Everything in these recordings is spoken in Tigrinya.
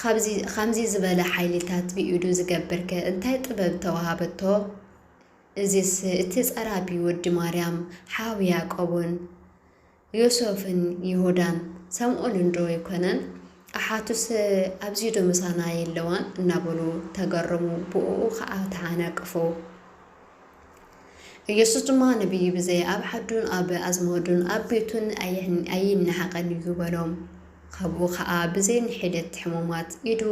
ኻብዚ ኻምዚ ዝበለ ሓይሊታት ብኢዱ ዝገብርከ እንታይ ጥበብ ተዋሃበቶ? እዚስ እቲ ጸራቢ ወዲ ማርያም ሓው ያእቆብን ዮሶፍን ይሁዳን ሰምኦንንዶ ኣይኮነን? ኣሓቱሰ ኣብዚዶ ምሳና የለዋን? እናበሉ ተገረሙ፣ ብእኡ ኸኣ ተዓናቀፉ። ኢየሱስ ድማ ነቢይ ብዘይ ኣብ ዓዱን ኣብ ኣዝማዱን ኣብ ቤቱን ኣይነሃቐን እዩ በሎም። ኻብኡ ኸኣ ብዘይ ንሒደት ሕሙማት ኢዱ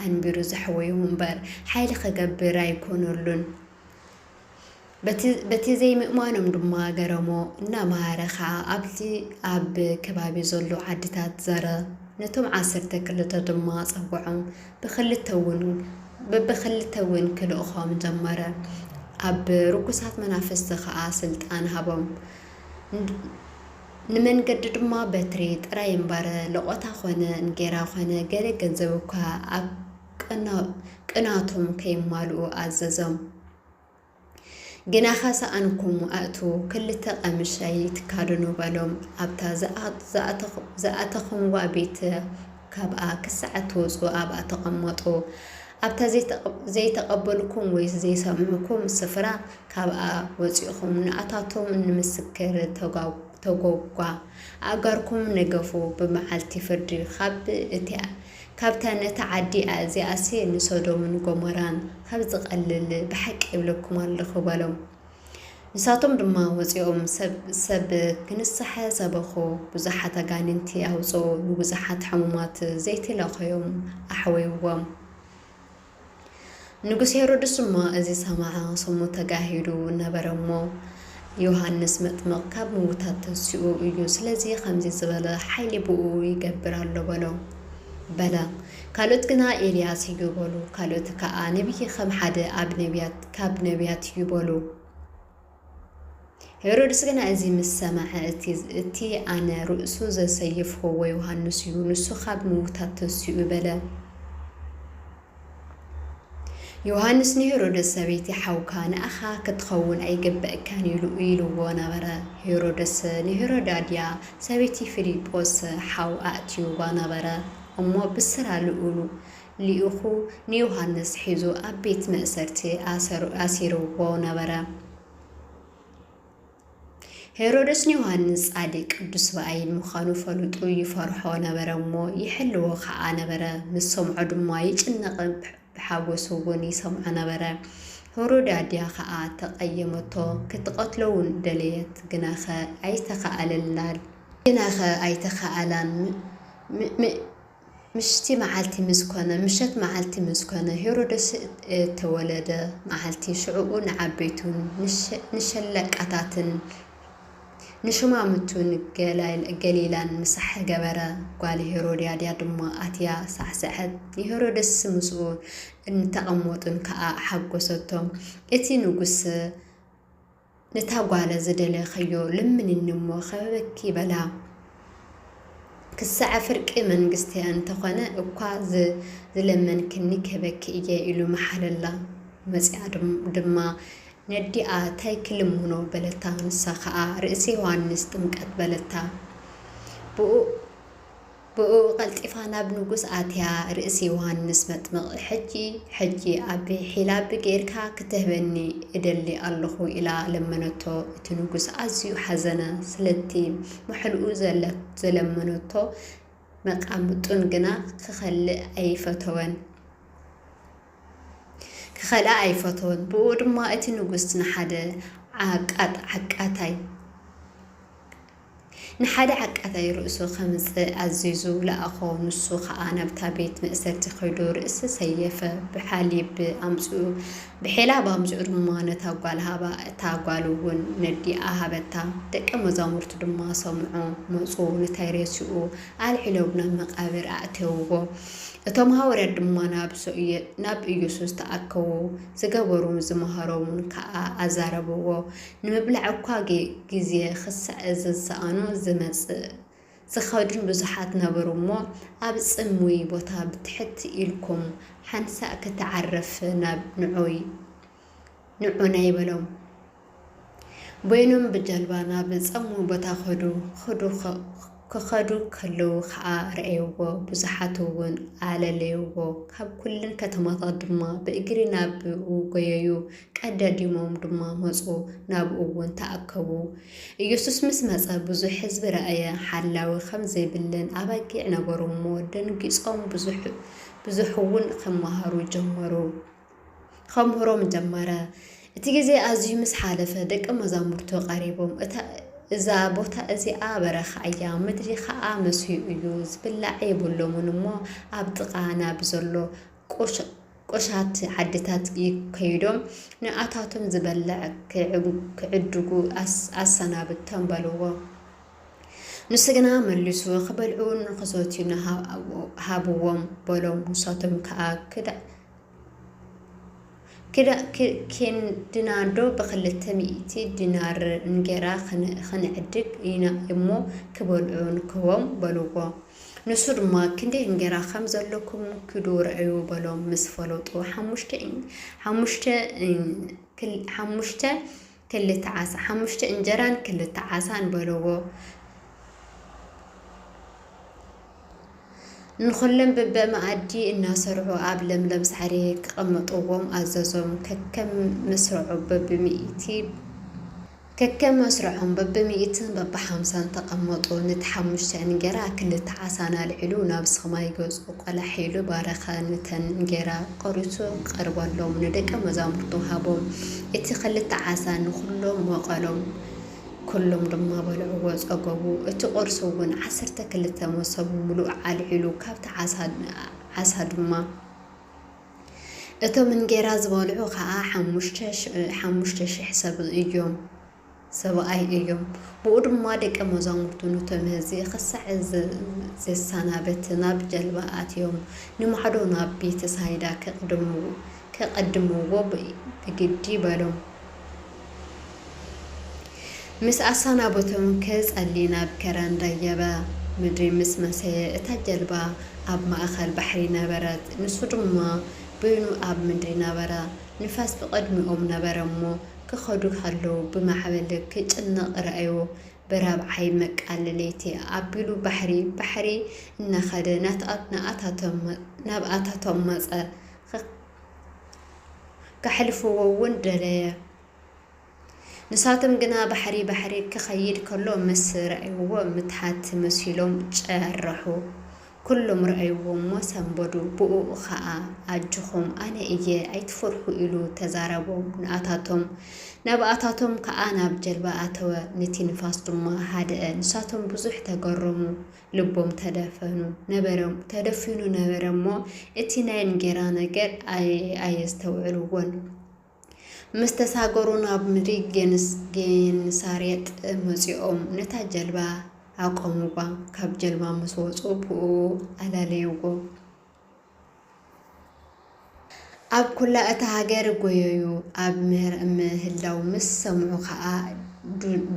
ኣንቢሩ ዘሕወዮ እምበር ሓይሊ ኸገብር ኣይኰነሉን። በቲ ዘይምእማኖም ድማ ገረሞ፣ እናመሃረ ኸኣ ኣብቲ ኣብ ከባቢ ዘሎ ዓድታት ዞረ። ነቶም ዓሰርተ ክልተ ድማ ጸውዖም፣ ብክልተ ውን በብክልተ ውን ክልእኾም ጀመረ ኣብ ርኩሳት መናፍስቲ ከኣ ስልጣን ሃቦም ንመንገዲ ድማ በትሪ ጥራይ እምበር ለቖታ ኮነ እንጌራ ኮነ ገለ ገንዘብ እኳ ኣብ ቅናቶም ከይማልኡ ኣዘዞም። ግናኸ ሰኣንኩም ኣእትዉ፣ ክልተ ቐምሽ ኣይትካደኑ በሎም፣ ኣብታ ዝኣተኹምዋ ቤት ካብኣ ክሳዕ እትወጹ ኣብኣ ተቐመጡ፣ ኣብታ ዘይተቐበሉኩም ወይ ዘይሰምዑኩም ስፍራ ካብኣ ወጺእኹም ንኣታቶም ንምስክር ተጐጓ፣ ኣእጋርኩም ንገፉ፣ ብመዓልቲ ፍርዲ ኻብ እቲ ካብታ ነታ ዓዲ ኣእዚኣሲ ንሶዶምን ጎሞራን ኻብ ዚቐልል ብሓቂ እብለኩም ኣሎኹ በሎም። ንሳቶም ድማ ወጺኦም ሰብ ሰብ ክንስሐ ሰበኹ፣ ብዙሓት ኣጋንንቲ ኣውጽኡ፣ ንብዙሓት ሕሙማት ዘይት ለኸዮም ኣሕወይዎም። ንጉስ ሄሮድስ ድማ እዚ ሰምዓ ሰሙ ተጋሂዱ ነበረ እሞ ዮሃንስ መጥምቕ ካብ ምውታት ተንሲኡ እዩ ስለዚ ከምዚ ዝበለ ሓይሊ ብኡ ይገብር ኣሎ በሎ በለ ካልኦት ግና ኤልያስ እዩ በሉ ካልኦት ከኣ ነቢይ ከም ሓደ ኣብ ነቢያት ካብ ነቢያት እዩ በሉ ሄሮድስ ግና እዚ ምስ ሰምዐ፣ እቲ እቲ ኣነ ርእሱ ዘሰየፍኽዎ ዮሃንስ እዩ፣ ንሱ ኻብ ምዉታት ተንሲኡ በለ። ዮሃንስ ንሄሮድስ፣ ሰበይቲ ሓውካ ንኣኻ ኽትኸውን ኣይግበእካን ኢሉ ኢልዎ ነበረ። ሄሮድስ ንሄሮዳድያ፣ ሰበይቲ ፊልጶስ ሓው፣ ኣእትይዋ ነበረ እሞ ብስራ ልኡሉ፣ ልኢኹ ንዮሃንስ ሒዙ ኣብ ቤት መእሰርቲ ኣሲርዎ ነበረ። ሄሮድስ ንዮሃንስ ጻድቅ ቅዱስ ብኣይን ምዃኑ ፈሉጡ ይፈርሖ ነበረ እሞ ይሕልዎ ከኣ ነበረ። ምስ ሰምዖ ድማ ይጭነቕ ብሓጎሱ እውን ይሰምዖ ነበረ። ሄሮድያድያ ከኣ ተቐየመቶ፣ ክትቐትሎ እውን ደለየት፣ ግናኸ ኣይተኻእለላን። ግናኸ ኣይተኻእላን። ምሽቲ መዓልቲ ምስ ኰነ፣ ምሸት መዓልቲ ምስ ኰነ፣ ሄሮደስ እተወለደ መዓልቲ፣ ሽዕኡ ንዓበይቱን ንሸለቃታትን ንሹማምቱን ገሊላን ምሳሕ ገበረ። ጓል ሄሮድያዳ ድማ ኣትያ ሳዕሰዐት፣ ንሄሮድስን ምስኡ እተቐመጡን ከኣ ሓጐሰቶም። እቲ ንጉስ። ነታ ጓለ ዝደለኽዮ ለምንኒ እሞ ኸበበኪ በላ። ክሳዐ ፍርቂ መንግስተ እንተ ኾነ እኳ ዝለመንክኒ ክህበኪ እየ ኢሉ መሓለላ። መጺኣ ድማ ነዲኣ ታይ ክልምኖ በለታ ንሳ ኸኣ ርእሲ ዮሃንስ ጥምቀት በለታ። ብኡ። ብእኡ ቀልጢፋ ናብ ንጉስ ኣትያ ርእሲ ዮሃንስ መጥምቕ ሕጂ ሕጂ ኣብ ሒላብ ገይርካ ክትህበኒ እደሊ ኣሎኹ ኢላ ለመነቶ። እቲ ንጉስ ኣዝዩ ሓዘነ ስለቲ ምሕልኡ ዘለመነቶ መቃምጡን ግና ክኸልእ ኣይፈተወን ክኸልኣ ኣይፈተወን ብእኡ ድማ እቲ ንጉስ ንሓደ ዓቃት ዓቃታይ ንሓደ ዓቃታይ ርእሱ ከምጽእ ኣዚዙ ለኣኾ፣ ንሱ ኸኣ ናብታ ቤት መእሰርቲ ኸይዱ ርእሲ ሰየፈ፣ ብሓሊብ ኣምጽኡ ብሒላብ ኣምጽኡ ድማ ነታ ጓል ሃባ፣ እታ ጓልውን ነዲኣ ሃበታ፣ ደቀ መዛሙርቱ ድማ ሰምዑ፣ መጹ ንታይ ሬስኡ ኣልዒሎም ናብ መቃብር ኣእተውዎ፣ እቶም ሃወርያት ድማ ናብ ኢየሱስ ተኣከቡ፣ ዝገበሩን ዝመሃሮምን ከኣ ኣዛረብዎ፣ ንምብላዕ እኳ ግዜ ክሳዕ ዝሰኣኑ ዝመጽእ ዝኸዱን ብዙሓት ነበሩ እሞ፣ ኣብ ጽምዊ ቦታ ብትሕት ኢልኩም ሓንሳእ ክትዓርፍ ናብ ንዑይ፣ ንዑናይ በሎም። በይኖም ብጃልባ ናብ ጸምዊ ቦታ ከዱ። ክዱ ክኸዱ ከለዉ ከኣ ረኣዩዎ፣ ብዙሓትውን ኣለለዩዎ፣ ካብ ኵለን ከተማታት ድማ ብእግሪ ናብኡ ጐየዩ፣ ቀደዲሞም ድማ መጹ፣ ናብኡውን ተኣከቡ። ኢየሱስ ምስ መጸ፣ ብዙሕ ሕዝቢ ረኣየ፣ ሓላዊ ኸም ዘይብለን ኣባጊዕ ነበሩ እሞ፣ ደንጊጾም፣ ብዙሕውን ኺመሃሩ ጀመሩ። ኸምህሮም ጀመረ። እቲ ግዜ ኣዝዩ ምስ ሓለፈ፣ ደቀ መዛሙርቱ ቐሪቦም፣ እታ እዛ ቦታ እዚኣ በረኻ እያ፣ ምድሪ ኸኣ መስዩ እዩ፣ ዚብላዕ የብሎምን እሞ፣ ኣብ ጥቓ ናብ ዘሎ ቈሸት ዓድታት ከይዶም፣ ንኣታቶም ዚበልዕ ኪዕድጉ ኣሰናብቶም በልዎ። ንሱ ግና መሊሱ፣ ኺበልዑን ኺሰትዩን ሃብዎም በሎም። ንሳቶም ከኣ፣ ኪንድናዶ ብኽልተ ሚእቲ ዲናርንጌራ ኽንዕድግ ኢና እሞ፣ ኪበልዑ ንክህቦም፣ በልዎ። ንሱ ድማ፣ ክንደይ እንጌራ ኸም ዘሎኩም ኪዱ ርኣዩ፣ በሎም። ምስ ፈለጡ፣ ሓሙሽተ ክልተ ዓሣ ሓሙሽተ እንጀራን ክልተ ዓሣን በልዎ። ንኹሎም በበመኣዲ እናሰርዑ ኣብ ለምለም ሳዕሪ ከቐምጥዎም ኣዘዞም። ከከም መስርዖም በብሚእትን በብሓምሳን ተቐመጡ። ነቲ ሓሙሽተ እንጌራ ክልተ ዓሣን ኣልዒሉ ናብ ሰማይ ገጹ ቈላሕ ኢሉ ባረኸ። ነተን እንጌራ። ቆሪጹ ቀርበሎም፣ ንደቀ መዛሙርቱ ሃቦም፣ እቲ ኸልተ ዓሳ ንዅሎም መቐሎም፣ ኵሎም ድማ በልዕዎ፣ ጸገቡ። እቲ ቁርሲ እውን ዓሰርተ ክልተ መሶብ ምሉእ ኣልዒሉ፣ ካብቲ ዓሳ ድማ። እቶም እንጌራ ዝበልዑ ኸኣ ሓሙሽተ ሽሕ ሰብ እዮም። ሰብኣይ እዮም። ብኡ ድማ ደቀ መዛሙርቱ ኑቶም ህዚ ኽሳዕ ዜሰናብት ናብ ጀልባ ኣትዮም ንማዕዶ ናብ ቤተሳይዳ ኬቐድምዎ ብግዲ በሎም። ምስ ኣሰናበቶም ኪጸሊ ናብ ከረን ደየበ። ምድሪ ምስ መሰየ እታ ጀልባ ኣብ ማእከል ባሕሪ ነበረት፣ ንሱ ድማ በይኑ ኣብ ምድሪ ነበረ። ንፋስ ብቕድሚኦም ነበረ እሞ፣ ክኸዱ ከለዉ ብማዕበል ክጭነቕ ርኣዮ፣ ብራብዓይ መቃል ለይቲ ኣቢሉ ባሕሪ ባሕሪ እናኸደ ናብኣታቶም መጸ፣ ከሕልፍዎ ውን ደለየ፣ ንሳቶም ግና ባሕሪ ባሕሪ ክኸይድ ከሎ ምስ ርኣይዎ ምትሓት መሲሎም ጨረሑ፣ ኩሎም ረኣይዎ እሞ ሰንበዱ ብኡኡ ኸኣ ኣጆኹም ኣነ እየ ኣይትፈርሑ ኢሉ ተዛረቦም ንኣታቶም ናብኣታቶም ከኣ ናብ ጀልባ ኣተወ ንቲ ንፋስ ድማ ሃደኣ ንሳቶም ብዙሕ ተገረሙ ልቦም ተደፈኑ ነበረ ተደፊኑ ነበረ እሞ እቲ ናይ እንጌራ ነገር ኣየስተውዕልዎን ምስ ተሳገሩ ናብ ምድሪ ጌንሳሬጥ መጺኦም ነታ ጀልባ ኣቆምዋ፣ ካብ ጀልባ ምስ ወጹ ብእኡ ኣለለይዎ። ኣብ ኩላ እታ ሃገር ጎየዩ፣ ኣብ ምህላው ምስ ሰምዑ ከኣ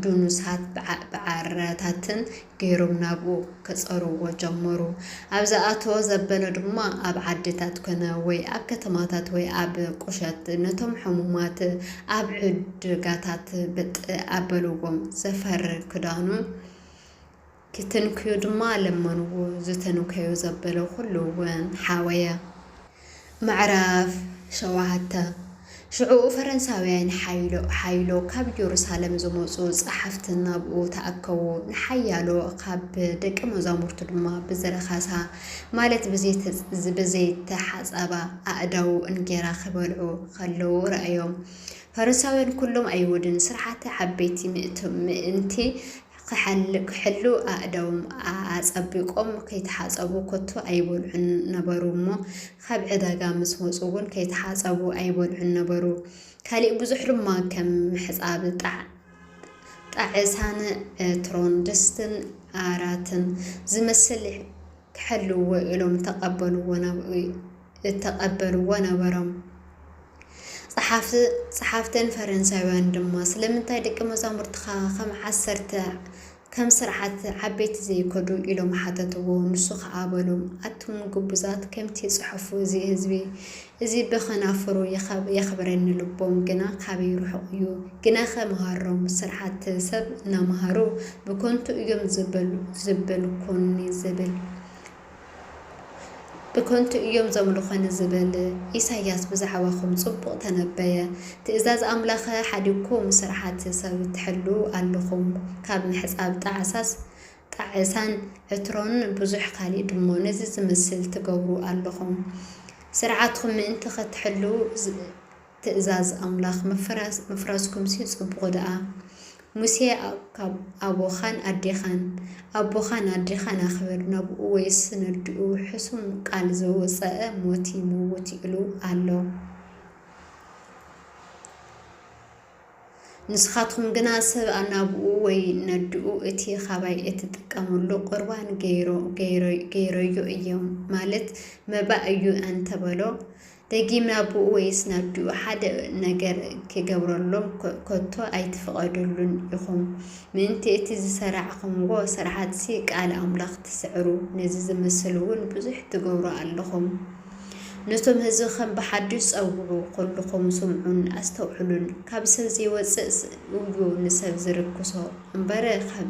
ዱኑሳት ብዓረታትን ገይሮም ናብኡ ከጸርዎ ጀመሩ። ኣብ ዝኣተዎ ዘበለ ድማ ኣብ ዓድታት ኮነ ወይ ኣብ ከተማታት ወይ ኣብ ቁሸት ነቶም ሕሙማት ኣብ ዕድጋታት ብጥ ኣበልዎም። ዘፈር ክዳኑ ኪትንክዩ ድማ ለመንዎ። ዝተንከዩ ዘበለ ዅሉ እውን ሓወየ። ምዕራፍ ሸውዓተ፣ ሽዑ ፈረንሳውያን ሓይሎ ኻብ የሩሳሌም ዝመጹ ጸሓፍቲ ናብኡ ተኣከቡ፣ ንሓያሎ ኻብ ደቀ መዛሙርቱ ድማ ብዝረኸሳ፣ ማለት ብዘይተሓጸባ ኣእዳዉ እንጌራ ኺበልዑ ኸለዉ ረኣዮም። ፈረንሳውያን ኵሎም ኣይሁድን ስርዓተ ዓበይቲ ምእንቲ ክሓልክሕሉ ኣእዳዎም ኣጸቢቆም ከይተሓጸቡ ኮቶ ኣይበልዑን ነበሩ እሞ ኻብ ዕዳጋ ምስ መጹ እውን ከይተሓጸቡ ኣይበልዑን ነበሩ ካሊእ ብዙሕ ድማ ከም ምሕጻብ ጣዕ ጣዕሳን ዕትሮን ድስትን ኣራትን ዝመስል ክሕልውዎ ኢሎም ተቀበልዎ ናብ እተቐበልዎ ነበሮም። ጸሓፍትን ፈረንሳውያንን ድማ፣ ስለምንታይ ደቂ መዛሙርትኻ ኸም ዓሰርተ፣ ከም ስርዓት ዓበይቲ ዘይከዱ? ኢሎም ሓተትዎ። ንሱ ኸኣ በሎም፣ ኣቱም ግቡዛት፣ ከምቲ ጽሑፉ፣ እዚ ህዝቢ እዚ ብኸናፍሩ የኽብረኒ፣ ልቦም ግና ካበይ ርሑቕ እዩ። ግናኸ መሃሮም ስርዓት ሰብ እናመሃሩ፣ ብከንቱ እዮም ዚበልኩኒ ዚብል። ብከንቱ እዮም ዘምልኹኒ ዝብል ኢሳያስ ብዛዕባኹም ጽቡቕ ተነበየ። ትእዛዝ ኣምላኸ ሓዲግኩም ስርሓት ሰብ ትሕልዉ ኣለኹም። ካብ ምሕጻብ ጣዕሳስ ጣዕሳን ዕትሮን ብዙሕ ካልእ ድሞ ነዚ ዝመስል ትገብሩ ኣለኹም። ስርዓትኩም ምእንቲ ከትሕልዉ፣ ትእዛዝ ኣምላኽ ምፍራስ ምፍራስኩምሲ ጽቡቁ ደኣ ሙሴ ካብ ኣቦኻን ኣዴኻን ኣቦኻን ኣዴኻን ኣኽብር ናብኡ ወይስ ነድኡ ሕሱም ቃል ዘውጸኣ ሞት ይመውት ይእሉ ኣሎ ንስኻትኩም ግና ሰብ ናብኡ ወይ ነድኡ እቲ ኻባይ እትጥቀምሉ ቁርባን ገይረዮ እዮም ማለት መባእ እዩ ኣንተበሎ ደጊም ናብኡ ወይስ ናብዲኡ ሓደ ነገር ኪገብረሎም ከቶ ኣይትፍቐዱሉን ኢኹም። ምእንቲ እቲ ዝሰራዕኹምዎ ስርሓትሲ ቃል ኣምላኽ ትስዕሩ፣ ነዚ ዚመስልውን ብዙሕ ትገብሩ ኣሎኹም። ነቶም ህዝብኸም ብሓድሽ ጸውዑ፣ ኹልኹም ስምዑን ኣስተውዕሉን። ካብ ሰብ ዚወጽእ እዩ ንሰብ ዚርክሶ እምበር፣ ካብ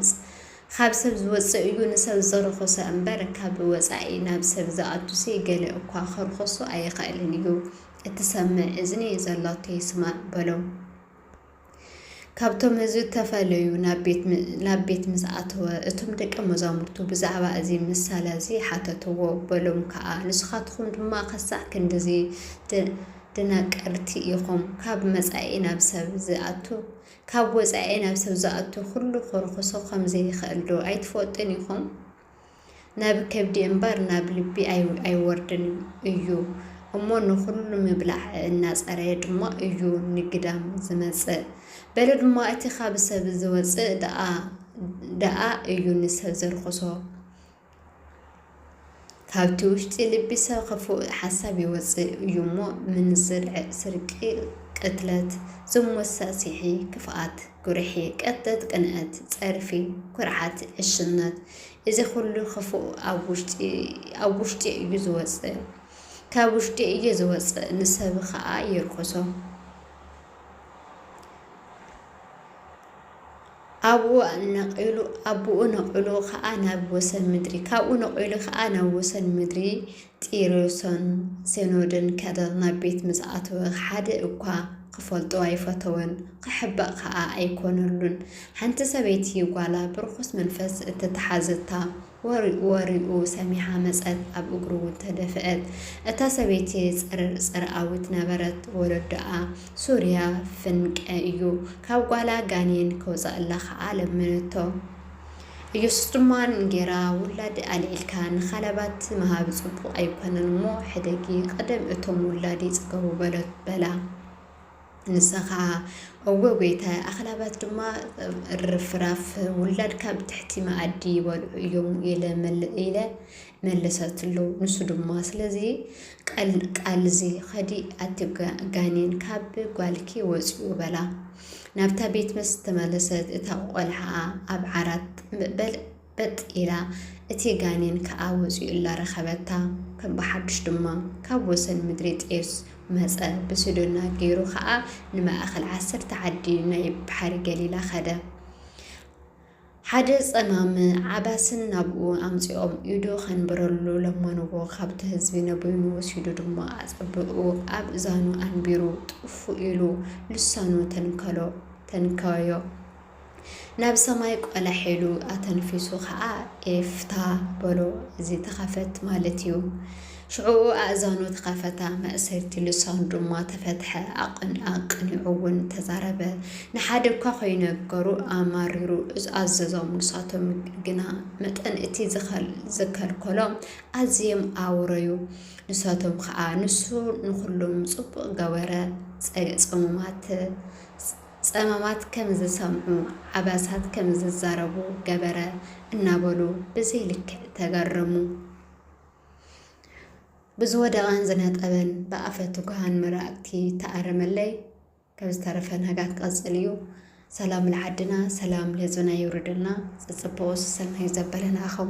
ኻብ ሰብ ዝወጽእ እዩ ንሰብ ዘርኾሰ እምበር፣ ካብ ወጻኢ ናብ ሰብ ዝኣቱሲ ገለ እኳ ኸርኾሶ ኣይኸእልን እዩ። እትሰምዕ እዝኒ ዘላቶ ይስማዕ በሎም። ካብቶም ህዝቢ ተፈለዩ፣ ናብ ቤት ምስ ኣተወ፣ እቶም ደቀ መዛሙርቱ ብዛዕባ እዚ ምሳለ እዚ ሓተትዎ። በሎም ከኣ፣ ንስኻትኹም ድማ ኸሳዕ ክንድዚ ደናቀርቲ ኢኹም፣ ካብ መጻኢ ናብ ሰብ ዝኣቱ ካብ ወጻኢ ናብ ሰብ ዝኣቱ ኩሉ ክርኹሶ ከም ዘይኸእል ዶ ኣይትፈልጡን ኢኹም? ናብ ከብዲ እምበር ናብ ልቢ ኣይወርድን እዩ እሞ ንኹሉ ምብላዕ እናጸረየ ድማ እዩ ንግዳም ዝመጽእ። በሉ ድማ እቲ ካብ ሰብ ዝወጽእ ደኣ እዩ ንሰብ ዘርኹሶ። ካብቲ ውሽጢ ልቢ ሰብ ክፉእ ሓሳብ ይወጽእ እዩ እሞ ምንዝር፣ ስርቂ፣ ቅትለት፣ ዝሙት፣ ሳዕሲዒ፣ ክፍኣት፣ ጉርሒ፣ ቀትት፣ ቅንኣት፣ ጸርፊ፣ ኩርዓት፣ ዕሽነት እዚ ኩሉ ክፉእ ኣብ ውሽጢ እዩ ዝወጽእ ካብ ውሽጢ እዩ ዝወጽእ ንሰብ ከኣ የርክሶ። ኣብኡ ነቒሉ፣ ኣቡኡ ነቒሉ ኸኣ ናብ ወሰን ምድሪ፣ ካብኡ ነቒሉ ኸኣ ናብ ወሰን ምድሪ ጢሮስን ሴኖድን ከደ፣ ናብ ቤት ምስ ኣተወ፣ ሓደ እኳ ኺፈልጦ ኣይፈተወን፣ ኺሕበእ ኸኣ ኣይኰነሉን። ሓንቲ ሰበይቲ ጓላ ብርኹስ መንፈስ እተተሓዘታ። ወሪኡ ወሪኡ ሰሚዓ መጸት ኣብ እግሩ ውን ተደፍእት እታ ሰበይቲ ጽርር ጽርኣዊት ነበረት ወለዶኣ ሱርያ ፍንቀ እዩ ካብ ጓላ ጋኔን ከውጸእላ ከኣ ለመነቶ እየሱስ ድማ እንጌራ ውላድ ኣልዒልካ ንኻለባት ምሃብ ጽቡቅ ኣይኮነን እሞ ሕደጊ ቅድም እቶም ውላድ ይጽገቡ በላ ንሳ ኸኣ፣ እወ ጐይታየ፣ ኣኽላባት ድማ ርፍራፍ ውላድካ ኣብ ትሕቲ መኣዲ ይበልዑ እዮም ኢለ መለሰትሉ። ንሱ ድማ፣ ስለዚ ቃልዚ ኸዲ፣ ኣቲ ጋኔን ካብ ጓልኪ ወጺኡ በላ። ናብታ ቤት ምስ ተመለሰት፣ እታ ቈልዓ ኣብ ዓራት በል በጥ ኢላ እቲ ጋኔን ከኣ ወጺኡላ ረኸበታ። ከም ብሓዱሽ ድማ ካብ ወሰን ምድሪ ጢሮስ መጸ፣ ብሲዶና ገይሩ ኸኣ ንማእከል ዓሰርተ ዓዲ ናይ ባሕሪ ገሊላ ኸደ። ሓደ ጸማም ዓባስን ናብኡ ኣምጺኦም ኢዱ ኸንብረሉ ለመንዎ፣ ኻብቲ ህዝቢ ነበይኑ ወሲዱ ድማ ኣጸብእኡ ኣብ እዛኑ ኣንቢሩ ጥፍእ ኢሉ ልሳኑ ተንከዮ። ናብ ሰማይ ቆላሕ ኢሉ ኣተንፊሱ ኸኣ ኤፍታ በሎ፣ እዚ ተኸፈት ማለት እዩ። ሽዑኡ ኣእዛኑ ተኸፈታ፣ ማእሰርቲ ልሳኑ ድማ ተፈትሐ፣ ኣቐኒዑ'ውን ተዛረበ። ንሓደ እኳ ኸይነገሩ ኣማሪሩ ኣዘዞም፣ ንሳቶም ግና መጠን እቲ ዝኸልከሎም ኣዝዮም ኣውረዩ። ንሳቶም ኸኣ ንሱ ንኹሎም ጽቡቕ ገበረ፣ ጸሙማት፣ ጸማማት ከም ዝሰምዑ፣ ዓባሳት ከም ዝዛረቡ ገበረ እናበሉ ብዘይ ልክዕ ተገረሙ። ብዝወደቐን ዝነጠበን ብኣፈ ትጉሃን መራእቲ ተኣረመለይ። ካብ ዝተረፈ ናጋት ቀጽል እዩ። ሰላም ልዓድና ሰላም ልህዝብና የውርደልና። ዝጽበኦስ ሰናይ ዘበለና ኣኸው።